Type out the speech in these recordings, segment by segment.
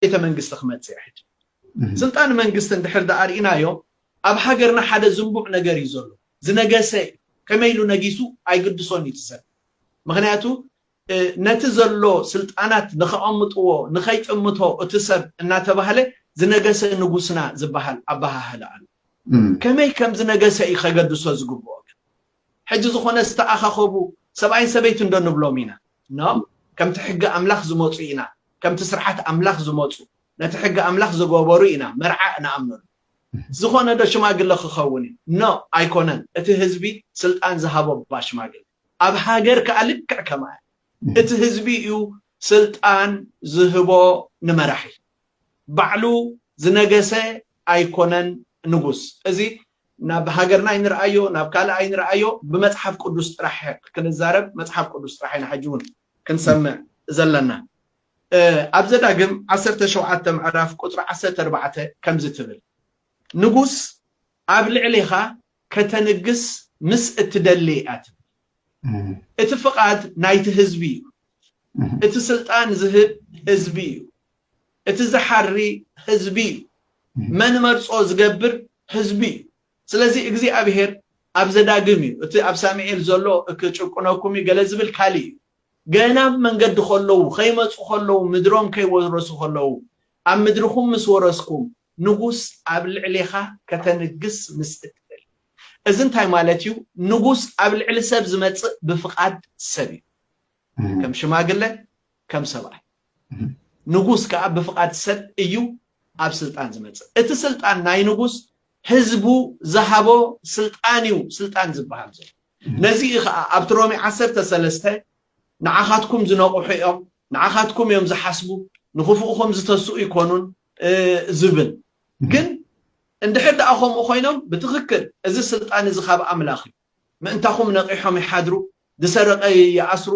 ቤተ መንግስቲ ክመጽእ እየ ሕጂ ስልጣን መንግስቲ እንድሕር ደኣ ርኢናዮ ኣብ ሃገርና ሓደ ዝንቡዕ ነገር እዩ ዘሎ ዝነገሰ እዩ ከመይ ኢሉ ነጊሱ ኣይግድሶን እዩ እቲ ሰብ ምክንያቱ ነቲ ዘሎ ስልጣናት ንከቐምጥዎ ንከይጥምቶ እቲ ሰብ እናተባህለ ዝነገሰ ንጉስና ዝበሃል ኣበሃህላ ኣሎ ከመይ ከም ዝነገሰ እዩ ከገድሶ ዝግብኦ ግን ሕጂ ዝኾነ ዝተኣኻኸቡ ሰብኣይን ሰበይትን ዶ ንብሎም ኢና? No! ከምቲ ሕጊ ኣምላኽ ዝመጹ ኢና፣ ከምቲ ስርዓት ኣምላኽ ዝመጹ፣ ነቲ ሕጊ ኣምላኽ ዝገበሩ ኢና መርዓ እንኣምነሉ። ዝኾነ ዶ ሽማግለ ክኸውን እዩ? No! ኣይኮነን፣ እቲ ህዝቢ ስልጣን ዝሃቦ እባ ሽማግለ። ኣብ ሃገር ከኣ ልክዕ ከምኣ እዩ፣ እቲ ህዝቢ እዩ ስልጣን ዝህቦ ንመራሒ። ባዕሉ ዝነገሰ ኣይኮነን ንጉስ እዚ ናብ ሃገርና ኣይንርኣዮ ናብ ካልእ ኣይንርኣዮ ብመጽሓፍ ቅዱስ ጥራሕ ክንዛረብ መጽሓፍ ቅዱስ ጥራሕ ኢና ሕጂ ውን ክንሰምዕ ዘለና ኣብ ዘዳግም ዓሰርተ ሸውዓተ ምዕራፍ ቁጽሪ ዓሰርተ ኣርባዕተ ከምዚ ትብል ንጉስ ኣብ ልዕሌኻ ከተንግስ ምስ እትደሊ እያ ትብል እቲ ፍቃድ ናይቲ ህዝቢ እዩ እቲ ስልጣን ዝህብ ህዝቢ እዩ እቲ ዝሓሪ ህዝቢ እዩ መን መርጾ ዝገብር ህዝቢ እዩ ስለዚ እግዚኣብሄር ኣብ ዘዳግም እዩ እቲ ኣብ ሳሚኤል ዘሎ ክጭቁነኩም እዩ ገለ ዝብል ካልእ እዩ ገና ኣብ መንገዲ ከለዉ ከይመጹ ከለዉ ምድሮም ከይወረሱ ከለዉ ኣብ ምድርኩም ምስ ወረስኩም ንጉስ ኣብ ልዕሌኻ ከተንግስ ምስ እትደሊ እዚ እንታይ ማለት እዩ ንጉስ ኣብ ልዕሊ ሰብ ዝመጽእ ብፍቃድ ሰብ እዩ ከም ሽማግለ ከም ሰብኣይ ንጉስ ከዓ ብፍቃድ ሰብ እዩ ኣብ ስልጣን ዝመፅእ እቲ ስልጣን ናይ ንጉስ ህዝቡ ዝሃቦ ስልጣን እዩ ስልጣን ዝበሃል ዘሎ ነዚ እዩ ከዓ ኣብቲ ሮሜ ዓሰርተ ሰለስተ ንዓኻትኩም ዝነቑሑ እዮም ንዓኻትኩም እዮም ዝሓስቡ ንኽፉእኹም ዝተስኡ ይኮኑን ዝብል ግን እንድሕር ደኣ ከምኡ ኮይኖም ብትክክል እዚ ስልጣን እዚ ካብ ኣምላኽ እዩ ምእንታኹም ነቒሖም ይሓድሩ፣ ዝሰረቐ ይኣስሩ፣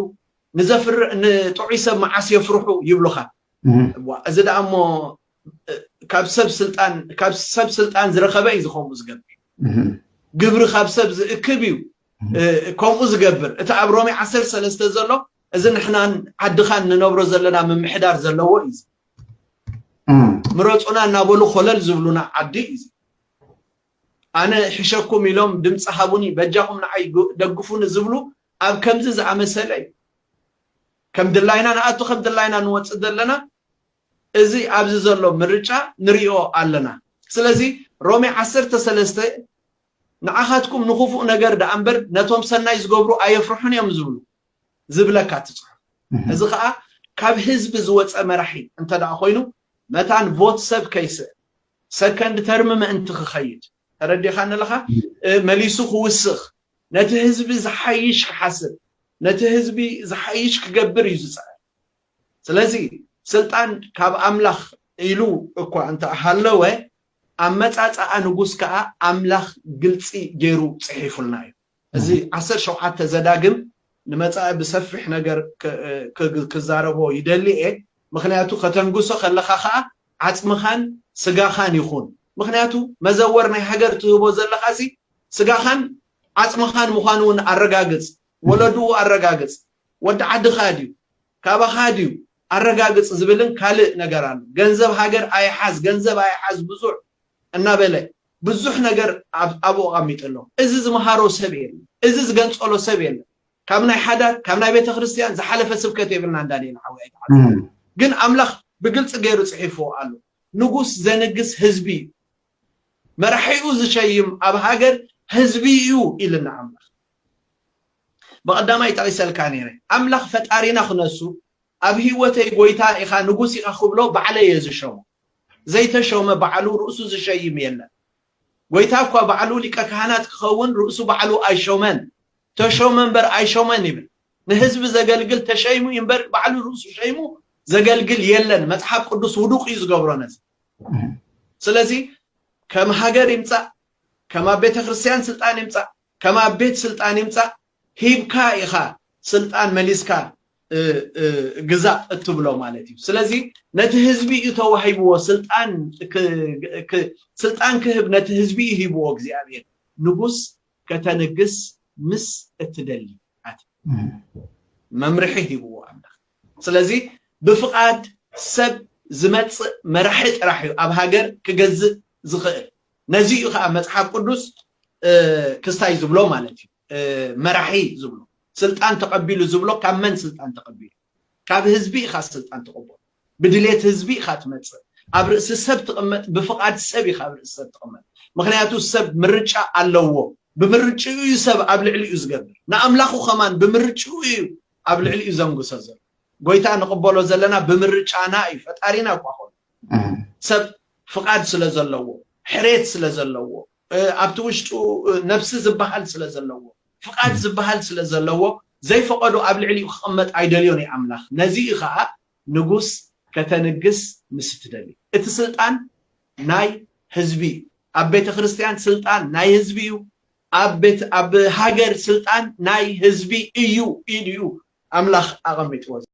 ንዘፍርዕ ንጥዑይ ሰብ መዓስ የፍርሑ ይብሉኻ። እዋ እዚ ደኣ እሞ ካብ ሰብ ስልጣን ካብ ሰብ ስልጣን ዝረኸበ እዩ ዝኸምኡ ዝገብር። ግብሪ ካብ ሰብ ዝእክብ እዩ ከምኡ ዝገብር። እቲ ኣብ ሮሜ ዓሰርተ ሰለስተ ዘሎ እዚ ንሕናን ዓድኻን ንነብሮ ዘለና ምምሕዳር ዘለዎ እዩ። ምረፁና እናበሉ ኮለል ዝብሉና ዓዲ እዩ። ኣነ እሕሸኩም ኢሎም ድምጺ ሃቡኒ በጃኹም ንዓይ ደግፉኒ ዝብሉ ኣብ ከምዚ ዝኣመሰለ እዩ ከም ድላይና ንኣቱ ከም ድላይና ንወጽእ ዘለና እዚ ኣብዚ ዘሎ ምርጫ ንሪኦ ኣለና ስለዚ ሮሜ ዓሰርተ ሰለስተ ንዓኻትኩም ንክፉእ ነገር ደኣ እምበር ነቶም ሰናይ ዝገብሩ ኣየፍርሑን እዮም ዝብሉ ዝብለካ እቲ ጽሑፍ እዚ ከዓ ካብ ህዝቢ ዝወፀ መራሒ እንተ ደኣ ኮይኑ መታን ቮት ሰብ ከይስእ ሰከንድ ተርም ምእንቲ ክኸይድ፣ ተረዲኻኒ ኣለኻ፣ መሊሱ ክውስኽ፣ ነቲ ህዝቢ ዝሓይሽ ክሓስብ፣ ነቲ ህዝቢ ዝሓይሽ ክገብር እዩ ዝጽዕር። ስለዚ ስልጣን ካብ ኣምላኽ ኢሉ እኳ እንተ ሃለወ፣ ኣመጻጽኣ ንጉስ ከኣ ኣምላኽ ግልጺ ገይሩ ጽሒፉልና እዩ። እዚ ዓሰርተ ሸውዓተ ዘዳግም ንመጻኢ ብሰፊሕ ነገር ክዛረቦ ይደሊ እየ ምክንያቱ ከተንግሶ ከለካ ከኣ ዓጽምካን ስጋካን ይኩን ምክንያቱ መዘወር ናይ ሃገር ትህቦ ዘለካ እዚ ስጋካን ዓጽምካን ምኳኑ ውን ኣረጋግጽ ወለድኡ ኣረጋግጽ ወዲ ዓድካ ድዩ ካባካ ድዩ ኣረጋግጽ ዝብልን ካልእ ነገር ኣሎ ገንዘብ ሃገር ኣይሓዝ ገንዘብ ኣይሓዝ ብዙሕ እናበለ ብዙሕ ነገር ኣብኡ ኣቐሚጡ ኣሎ። እዚ ዝመሃሮ ሰብ የለን። እዚ ዝገንጸሎ ሰብ የለን። ካብ ናይ ሓዳር፣ ካብ ናይ ቤተክርስትያን ዝሓለፈ ስብከት የብልናን ዳንኤል ሓወይ ኣይትሓዝን። ግን ኣምላኽ ብግልጺ ገይሩ ጽሒፍዎ ኣሎ። ንጉስ ዘንግስ ህዝቢ እዩ። መራሒኡ ዝሸይም ኣብ ሃገር ህዝቢ እዩ ኢልና ኣምላኽ። ብቐዳማይ ጠቒሰልካ ነይረ። ኣምላኽ ፈጣሪና ክነሱ ኣብ ህይወተይ ጎይታ ኢኻ ንጉስ ኢኻ ክብሎ ባዕለይ እየ ዝሸሞ። ዘይተሾመ ባዕሉ ርእሱ ዝሸይም የለን። ጐይታ እኳ ባዕሉ ሊቀ ካህናት ክኸውን ርእሱ ባዕሉ ኣይሾመን። ተሾመ እምበር ኣይሾመን ይብል። ንህዝቢ ዘገልግል ተሸይሙ እዩ እምበር ባዕሉ ርእሱ ሸይሙ ዘገልግል የለን። መጽሓፍ ቅዱስ ውዱቕ እዩ ዝገብሮ ነዚ። ስለዚ ከም ሃገር ይምጻእ፣ ከም ኣብ ቤተ ክርስቲያን ስልጣን ይምጻእ፣ ከም ኣብ ቤት ስልጣን ይምጻእ፣ ሂብካ ኢኻ ስልጣን መሊስካ ግዛእ እትብሎ ማለት እዩ። ስለዚ ነቲ ህዝቢ እዩ ተዋሂብዎ ስልጣን ስልጣን ክህብ ነቲ ህዝቢ እዩ ሂብዎ እግዚኣብሔር ንጉስ ከተንግስ ምስ እትደሊ ኣቲ መምርሒ ሂብዎ ኣምላኽ። ስለዚ ብፍቓድ ሰብ ዝመጽእ መራሒ ጥራሕ እዩ ኣብ ሃገር ክገዝእ ዝኽእል። ነዚ እዩ ከዓ መጽሓፍ ቅዱስ ክስታይ ዝብሎ ማለት እዩ። መራሒ ዝብሎ ስልጣን ተቀቢሉ ዝብሎ ካብ መን ስልጣን ተቀቢሉ ካብ ህዝቢ ኢካ ስልጣን ትቅበሎ ብድሌት ህዝቢ ኢካ ትመጽእ ኣብ ርእሲ ሰብ ትቅመጥ ብፍቃድ ሰብ ኢካ ኣብ ርእሲ ሰብ ትቅመጥ ምክንያቱ ሰብ ምርጫ ኣለዎ ብምርጭኡ እዩ ሰብ ኣብ ልዕሊኡ ዝገብር ንኣምላኩ ከማን ብምርጭኡ እዩ ኣብ ልዕሊኡ ዘንግሶ ዘሎ ጎይታ ንቅበሎ ዘለና ብምርጫና እዩ ፈጣሪና እኳ ኮኑ ሰብ ፍቃድ ስለ ዘለዎ ሕሬት ስለ ዘለዎ ኣብቲ ውሽጡ ነብሲ ዝበሃል ስለ ዘለዎ ፍቃድ ዝበሃል ስለ ዘለዎ ዘይፈቀዶ ኣብ ልዕሊኡ ክቅመጥ ኣይደልዮን እዩ ኣምላኽ ነዚ እዩ ከኣ ንጉስ ከተንግስ ምስ እትደሊ እቲ ስልጣን ናይ ህዝቢ እዩ ኣብ ቤተ ክርስትያን ስልጣን ናይ ህዝቢ እዩ ኣብ ቤት ኣብ ሃገር ስልጣን ናይ ህዝቢ እዩ ኢሉ እዩ ኣምላኽ ኣቀሚጥዎ